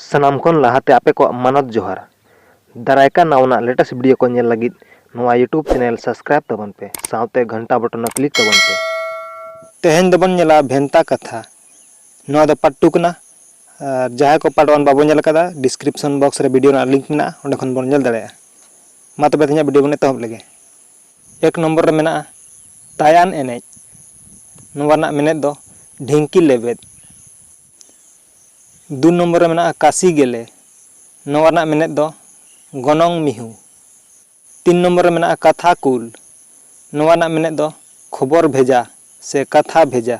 ᱥᱟᱱᱟᱢ ᱠᱷᱚᱱ ᱞᱟᱦᱟ ᱛᱮ ᱟᱯᱮ ᱠᱚᱣᱟᱜ ᱢᱟᱱᱚᱛ ᱡᱚᱦᱟᱨ᱾ ᱫᱟᱨᱟᱭ ᱠᱟᱱ ᱱᱟᱣᱟᱱᱟᱜ ᱞᱮᱴᱮᱥᱴ ᱵᱷᱤᱰᱤᱭᱳ ᱠᱚ ᱧᱮᱞ ᱞᱟᱹᱜᱤᱫ ᱱᱚᱣᱟ ᱭᱩᱴᱩᱵᱽ ᱪᱮᱱᱮᱞ ᱥᱟᱵᱽᱥᱠᱨᱟᱭᱤᱵᱽ ᱛᱟᱵᱚᱱ ᱯᱮ ᱥᱟᱶᱛᱮ ᱜᱷᱟᱱᱴᱟ ᱵᱚᱴᱚᱱ ᱦᱚᱸ ᱠᱞᱤᱠ ᱛᱟᱵᱚᱱ ᱯᱮ᱾ ᱛᱮᱦᱮᱧ ᱫᱚᱵᱚᱱ ᱧᱮᱞᱟ ᱵᱷᱮᱱᱛᱟ ᱠᱟᱛᱷᱟ᱾ ᱱᱚᱣᱟ ᱫᱚ ᱯᱟᱨᱴ ᱴᱩ ᱠᱟᱱᱟ ᱟᱨ ᱡᱟᱦᱟᱸᱭ ᱠᱚ ᱯᱟᱨᱴ ᱚᱣᱟᱱ ᱵᱟᱵᱚ ᱧᱮᱞ ᱟᱠᱟᱫᱟ ᱰᱤᱥᱠᱨᱤᱯᱥᱚᱱ ᱵᱚᱠᱥ ᱨᱮ ᱵᱷᱤᱰᱤᱭᱳ ᱨᱮᱱᱟᱜ ᱞᱤᱝᱠ ᱢᱮᱱᱟᱜᱼᱟ ᱚᱸᱰᱮ ᱠᱷᱚᱱ ᱵᱚᱱ ᱧᱮᱞ ᱫᱟᱲᱮᱭᱟᱜᱼᱟ᱾ ᱢᱟ ᱛᱚᱵᱮ ᱛᱮᱦᱮᱧᱟᱜ ᱵᱷᱤᱰᱤᱭᱳ ᱵᱚᱱ ᱮᱛᱚᱦᱚᱵ ᱞᱮᱜᱮ᱾ ᱮᱠ ᱱᱚᱢᱵᱚᱨ ᱨᱮ ᱢᱮᱱᱟᱜᱼᱟ ᱛᱟᱭᱟᱱ ᱮᱱᱮᱡ᱾ ᱱᱚᱣᱟ ᱨᱮᱱᱟᱜ ᱢᱮᱱᱮᱛ ᱫᱚ ᱰᱷᱤᱝᱠᱤ ᱞᱮᱵᱮᱫ᱾ ᱫᱩ ᱱᱚᱢᱵᱚᱨ ᱨᱮ ᱢᱮᱱᱟᱜᱼᱟ ᱠᱟᱥᱤ ᱜᱮᱞᱮ ᱱᱚᱣᱟ ᱨᱮᱱᱟᱜ ᱢᱮᱱᱮᱛ ᱫᱚ ᱜᱚᱱᱚᱝ ᱢᱤᱦᱩ᱾ ᱛᱤᱱ ᱱᱚᱢᱵᱚᱨ ᱨᱮ ᱢᱮᱱᱟᱜᱼᱟ ᱠᱟᱛᱷᱟ ᱠᱩᱞ ᱱᱚᱣᱟ ᱨᱮᱱᱟᱜ ᱢᱮᱱᱮᱛ ᱫᱚ ᱠᱷᱚᱵᱚᱨ ᱵᱷᱮᱡᱟ ᱥᱮ ᱠᱟᱛᱷᱟ ᱵᱷᱮᱡᱟ᱾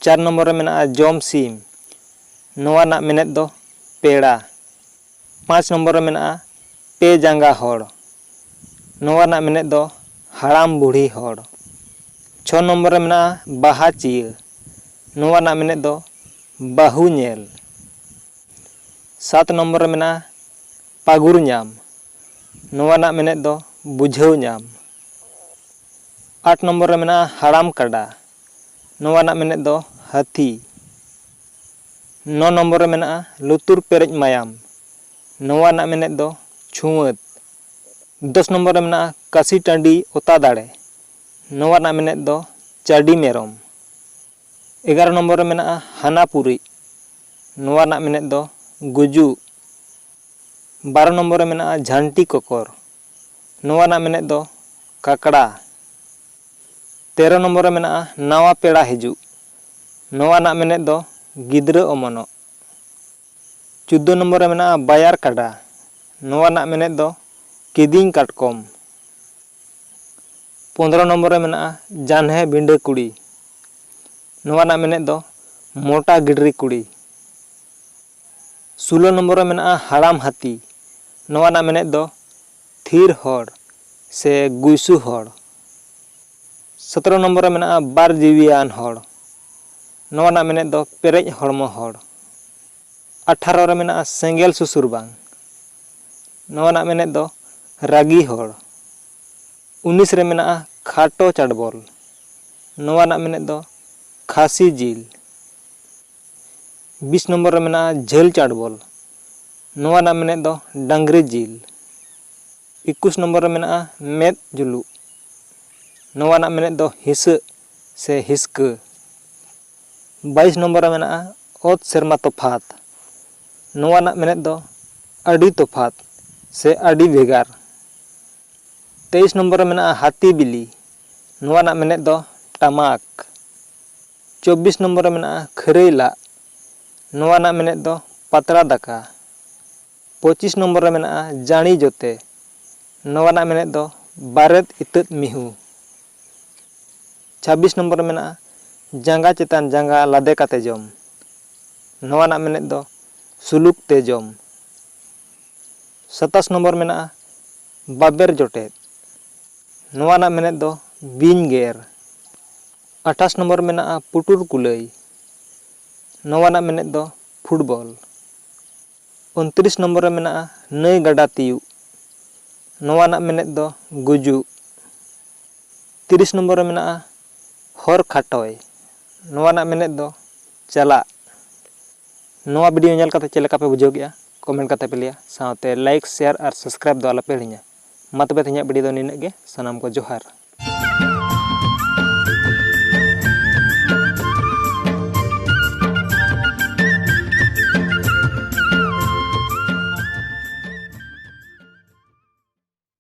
ᱪᱟᱨ ᱱᱚᱢᱵᱚᱨ ᱨᱮ ᱢᱮᱱᱟᱜᱼᱟ ᱡᱚᱢ ᱥᱤᱢ ᱱᱚᱣᱟ ᱨᱮᱱᱟᱜ ᱢᱮᱱᱮᱛ ᱫᱚ ᱯᱮᱲᱟ᱾ ᱯᱟᱸᱪ ᱱᱚᱢᱵᱚᱨ ᱨᱮ ᱢᱮᱱᱟᱜᱼᱟ ᱯᱮ ᱡᱟᱸᱜᱟ ᱦᱚᱲ ᱱᱚᱣᱟ ᱨᱮᱱᱟᱜ ᱢᱮᱱᱮᱛ ᱫᱚ ᱦᱟᱲᱟᱢ ᱵᱩᱲᱦᱤ ᱦᱚᱲ᱾ ᱪᱷᱚ ᱱᱚᱢᱵᱚᱨ ᱨᱮ ᱢᱮᱱᱟᱜᱼᱟ ᱵᱟᱦᱟ ᱪᱤᱭᱟᱹ᱾ ᱱᱚᱣᱟ ᱨᱮᱱᱟᱜ ᱢᱮᱱᱮᱛ ᱫᱚ ᱵᱟᱹᱦᱩ ᱧᱮᱞ᱾ ᱥᱟᱛ ᱱᱚᱢᱵᱚᱨ ᱨᱮ ᱢᱮᱱᱟᱜᱼᱟ ᱯᱟᱹᱜᱩᱨ ᱧᱟᱢ᱾ ᱱᱚᱣᱟ ᱨᱮᱱᱟᱜ ᱢᱮᱱᱮᱛ ᱫᱚ ᱵᱩᱡᱷᱟᱹᱣ ᱧᱟᱢ᱾ ᱟᱴ ᱱᱚᱢᱵᱚᱨ ᱨᱮ ᱢᱮᱱᱟᱜᱼᱟ ᱦᱟᱲᱟᱢ ᱠᱟᱰᱟ᱾ ᱱᱚᱣᱟ ᱨᱮᱱᱟᱜ ᱢᱮᱱᱮᱛ ᱫᱚ ᱦᱟᱹᱛᱤ᱾ ᱱᱚ ᱱᱚᱢᱵᱚᱨ ᱨᱮ ᱢᱮᱱᱟᱜᱼᱟ ᱞᱩᱛᱩᱨ ᱯᱮᱨᱮᱡ ᱢᱟᱭᱟᱢ᱾ ᱱᱚᱣᱟ ᱨᱮᱱᱟᱜ ᱢᱮᱱᱮᱛ ᱫᱚ ᱪᱷᱩᱣᱟᱹᱛ᱾ ᱫᱚᱥ ᱱᱚᱢᱵᱚᱨ ᱨᱮ ᱢᱮᱱᱟᱜᱼᱟ ᱠᱟᱹᱥᱤ ᱴᱟᱺᱰᱤ ᱚᱛᱟ ᱫᱟᱲᱮ᱾ ᱱᱚᱣᱟ ᱨᱮᱱᱟᱜ ᱢᱮᱱᱮᱛ ᱫᱚ ᱪᱟᱹᱰᱤ ᱢᱮᱨᱚᱢ᱾ ᱮᱜᱟᱨᱚ ᱱᱚᱢᱵᱚᱨ ᱨᱮ ᱢᱮᱱᱟᱜᱼᱟ ᱦᱟᱱᱟ ᱯᱩᱨᱤᱡ᱾ ᱱᱚᱣᱟ ᱨᱮᱱᱟᱜ ᱢᱮᱱᱮᱛ ᱫᱚ ᱜᱩᱡᱩᱜ᱾ ᱵᱟᱨᱚ ᱱᱚᱢᱵᱚᱨ ᱨᱮ ᱢᱮᱱᱟᱜᱼᱟ ᱡᱷᱟᱱᱴᱤ ᱠᱚᱠᱚᱨ᱾ ᱱᱚᱣᱟ ᱨᱮᱱᱟᱜ ᱢᱮᱱᱮᱛ ᱫᱚ ᱠᱟᱠᱲᱟ᱾ ᱛᱮᱨᱚ ᱱᱚᱢᱵᱚᱨ ᱨᱮ ᱢᱮᱱᱟᱜᱼᱟ ᱱᱟᱣᱟ ᱯᱮᱲᱟ ᱦᱤᱡᱩᱜ᱾ ᱱᱚᱣᱟ ᱨᱮᱱᱟᱜ ᱢᱮᱱᱮᱛ ᱫᱚ ᱜᱤᱫᱽᱨᱟᱹ ᱚᱢᱚᱱᱚᱜ᱾ ᱪᱳᱫᱽᱫᱳ ᱱᱚᱢᱵᱚᱨ ᱨᱮ ᱢᱮᱱᱟᱜᱼᱟ ᱵᱟᱭᱟᱨ ᱠᱟᱰᱟ᱾ ᱱᱚᱣᱟ ᱨᱮᱱᱟᱜ ᱢᱮᱱᱮᱛ ᱫᱚ ᱠᱤᱫᱤᱧ ᱠᱟᱴᱠᱚᱢ᱾ ᱯᱚᱸᱫᱽᱨᱚ ᱱᱚᱢᱵᱚᱨ ᱨᱮ ᱢᱮᱱᱟᱜᱼᱟ ᱡᱟᱱᱦᱮ ᱵᱤᱸᱰᱟᱹ ᱠᱩᱲᱤ᱾ ᱱᱚᱣᱟ ᱨᱮᱱᱟᱜ ᱢᱮᱱᱮᱛ ᱫᱚ ᱢᱚᱴᱟ ᱜᱤᱰᱨᱤ ᱠᱩᱲᱤ᱾ ᱥᱩᱞᱳ ᱱᱚᱢᱵᱚᱨ ᱨᱮ ᱢᱮᱱᱟᱜᱼᱟ ᱦᱟᱲᱟᱢ ᱦᱟᱹᱛᱤ᱾ ᱱᱚᱣᱟ ᱨᱮᱱᱟᱜ ᱢᱮᱱᱮᱛ ᱫᱚ ᱛᱷᱤᱨ ᱦᱚᱲ ᱥᱮ ᱜᱩᱭᱥᱩ ᱦᱚᱲ᱾ ᱥᱚᱛᱨᱚ ᱱᱚᱢᱵᱚᱨ ᱨᱮ ᱢᱮᱱᱟᱜᱼᱟ ᱵᱟᱨ ᱡᱤᱣᱤᱭᱟᱱ ᱦᱚᱲ᱾ ᱱᱚᱣᱟ ᱨᱮᱱᱟᱜ ᱢᱮᱱᱮᱛ ᱫᱚ ᱯᱮᱨᱮᱡ ᱦᱚᱲᱢᱚ ᱦᱚᱲ᱾ ᱟᱴᱷᱟᱨᱚ ᱨᱮ ᱢᱮᱱᱟᱜᱼᱟ ᱥᱮᱸᱜᱮᱞ ᱥᱩᱥᱩᱨ ᱵᱟᱝ᱾ ᱱᱚᱣᱟ ᱨᱮᱱᱟᱜ ᱢᱮᱱᱮᱛ ᱫᱚ ᱨᱟᱹᱜᱤ ᱦᱚᱲ᱾ ᱩᱱᱤᱥ ᱨᱮ ᱢᱮᱱᱟᱜᱼᱟ ᱠᱷᱟᱴᱚ ᱪᱟᱰᱵᱚᱞ᱾ ᱱᱚᱣᱟ ᱨᱮᱱᱟᱜ ᱢᱮᱱᱮᱛ ᱫᱚ ᱠᱷᱟᱹᱥᱤ ᱡᱤᱞ᱾ ᱵᱤᱥ ᱱᱚᱢᱵᱚᱨ ᱨᱮ ᱢᱮᱱᱟᱜᱼᱟ ᱡᱷᱟᱹᱞ ᱪᱟᱰᱵᱚᱞ᱾ ᱱᱚᱣᱟ ᱨᱮᱱᱟᱜ ᱢᱮᱱᱮᱛ ᱫᱚ ᱰᱟᱹᱝᱨᱤ ᱡᱤᱞ᱾ ᱮᱠᱩᱥ ᱱᱚᱢᱵᱚᱨ ᱨᱮ ᱢᱮᱱᱟᱜᱼᱟ ᱢᱮᱫ ᱡᱩᱞᱩᱜ᱾ ᱱᱚᱣᱟ ᱨᱮᱱᱟᱜ ᱢᱮᱱᱮᱛ ᱫᱚ ᱦᱤᱥᱟᱹᱜ᱾ ᱥᱮ ᱦᱤᱥᱠᱟᱹ᱾ ᱵᱟᱭᱤᱥ ᱱᱚᱢᱵᱚᱨ ᱨᱮ ᱢᱮᱱᱟᱜᱼᱟ ᱚᱛ ᱥᱮᱨᱢᱟ ᱛᱚᱯᱷᱟᱛ᱾ ᱱᱚᱣᱟ ᱨᱮᱱᱟᱜ ᱢᱮᱱᱮᱛ ᱫᱚ ᱟᱹᱰᱤ ᱛᱚᱯᱷᱟᱛ ᱥᱮ ᱟᱹᱰᱤ ᱵᱷᱮᱜᱟᱨ᱾ ᱛᱮᱭᱤᱥ ᱱᱚᱢᱵᱚᱨ ᱨᱮ ᱢᱮᱱᱟᱜᱼᱟ ᱦᱟᱹᱛᱤ ᱵᱤᱞᱤ᱾ ᱱᱚᱣᱟ ᱨᱮᱱᱟᱜ ᱢᱮᱱᱮᱛ ᱫᱚ ᱴᱟᱢᱟᱠ᱾ ᱪᱚᱵᱵᱤᱥ ᱱᱚᱢᱵᱚᱨ ᱨᱮ ᱢᱮᱱᱟᱜᱼᱟ ᱠᱷᱟᱹᱨᱟᱹᱭ ᱞᱟᱜ᱾ ᱱᱚᱣᱟ ᱨᱮᱱᱟᱜ ᱢᱮᱱᱮᱛ ᱫᱚ ᱯᱟᱛᱲᱟ ᱫᱟᱠᱟ᱾ ᱯᱚᱸᱪᱤᱥ ᱱᱚᱢᱵᱚᱨ ᱨᱮ ᱢᱮᱱᱟᱜᱼᱟ ᱡᱟᱬᱤ ᱡᱚᱛᱮ᱾ ᱱᱚᱣᱟ ᱨᱮᱱᱟᱜ ᱢᱮᱱᱮᱛ ᱫᱚ ᱵᱟᱨᱮᱛ ᱤᱛᱟᱹᱫ ᱢᱤᱦᱩ᱾ ᱪᱷᱟᱵᱵᱤᱥ ᱱᱚᱢᱵᱚᱨ ᱨᱮ ᱢᱮᱱᱟᱜᱼᱟ ᱡᱟᱸᱜᱟ ᱪᱮᱛᱟᱱ ᱡᱟᱸᱜᱟ ᱞᱟᱫᱮ ᱠᱟᱛᱮ ᱡᱚᱢ᱾ ᱱᱚᱣᱟ ᱨᱮᱱᱟᱜ ᱢᱮᱱᱮᱛ ᱫᱚ ᱥᱩᱞᱩᱠ ᱛᱮ ᱡᱚᱢ᱾ ᱥᱟᱛᱟᱥ ᱱᱚᱢᱵᱚᱨ ᱢᱮᱱᱟᱜᱼᱟ ᱵᱟᱵᱮᱨ ᱡᱚᱴᱮᱫ᱾ ᱱᱚᱣᱟ ᱨᱮᱱᱟᱜ ᱢᱮᱱᱮᱛ ᱫᱚ ᱵᱤᱧ ᱜᱮᱨ᱾ ᱟᱴᱷᱟᱥ ᱱᱚᱢᱵᱚᱨ ᱢᱮᱱᱟᱜᱼᱟ ᱯᱩᱴᱩᱨ ᱠᱩᱞᱟᱹᱭ᱾ ᱱᱚᱣᱟ ᱨᱮᱱᱟᱜ ᱢᱮᱱᱮᱛ ᱫᱚ ᱯᱷᱩᱴᱵᱚᱞ᱾ ᱩᱱᱛᱨᱤᱥ ᱱᱚᱢᱵᱚᱨ ᱨᱮ ᱢᱮᱱᱟᱜᱼᱟ ᱱᱟᱹᱭ ᱜᱟᱰᱟ ᱛᱤᱭᱩᱜ᱾ ᱱᱚᱣᱟ ᱨᱮᱱᱟᱜ ᱢᱮᱱᱮᱛ ᱫᱚ ᱜᱩᱡᱩᱜ᱾ ᱛᱤᱨᱤᱥ ᱱᱚᱢᱵᱚᱨ ᱨᱮ ᱢᱮᱱᱟᱜᱼᱟ ᱦᱚᱨ ᱠᱷᱟᱴᱚᱭ᱾ ᱱᱚᱣᱟ ᱨᱮᱱᱟᱜ ᱢᱮᱱᱮᱛ ᱫᱚ ᱪᱟᱞᱟᱜ᱾ ᱱᱚᱣᱟ ᱵᱷᱤᱰᱤᱭᱳ ᱧᱮᱞ ᱠᱟᱛᱮ ᱪᱮᱫ ᱞᱮᱠᱟ ᱯᱮ ᱵᱩᱡᱷᱟᱹᱣ ᱠᱮᱫᱼᱟ ᱠᱚᱢᱮᱱᱴ ᱠᱟᱛᱮ ᱯᱮ ᱞᱟᱹᱭᱟ ᱥᱟᱶᱛᱮ ᱞᱟᱭᱤᱠ, ᱥᱮᱭᱟᱨ ᱟᱨ ᱥᱟᱵᱥᱠᱨᱟᱭᱤᱵᱽ ᱫᱚ ᱟᱞᱚ ᱯᱮ ᱦᱤᱲᱤᱧᱟ᱾ ᱢᱟ ᱛᱚᱵᱮ ᱛᱮᱦᱮᱧᱟᱜ ᱵᱤᱰᱤᱭᱳ ᱫᱚ ᱱᱤᱱᱟᱹᱜ ᱜᱮ ᱥᱟᱱᱟᱢ ᱠᱚ ᱡᱚᱦᱟᱨ᱾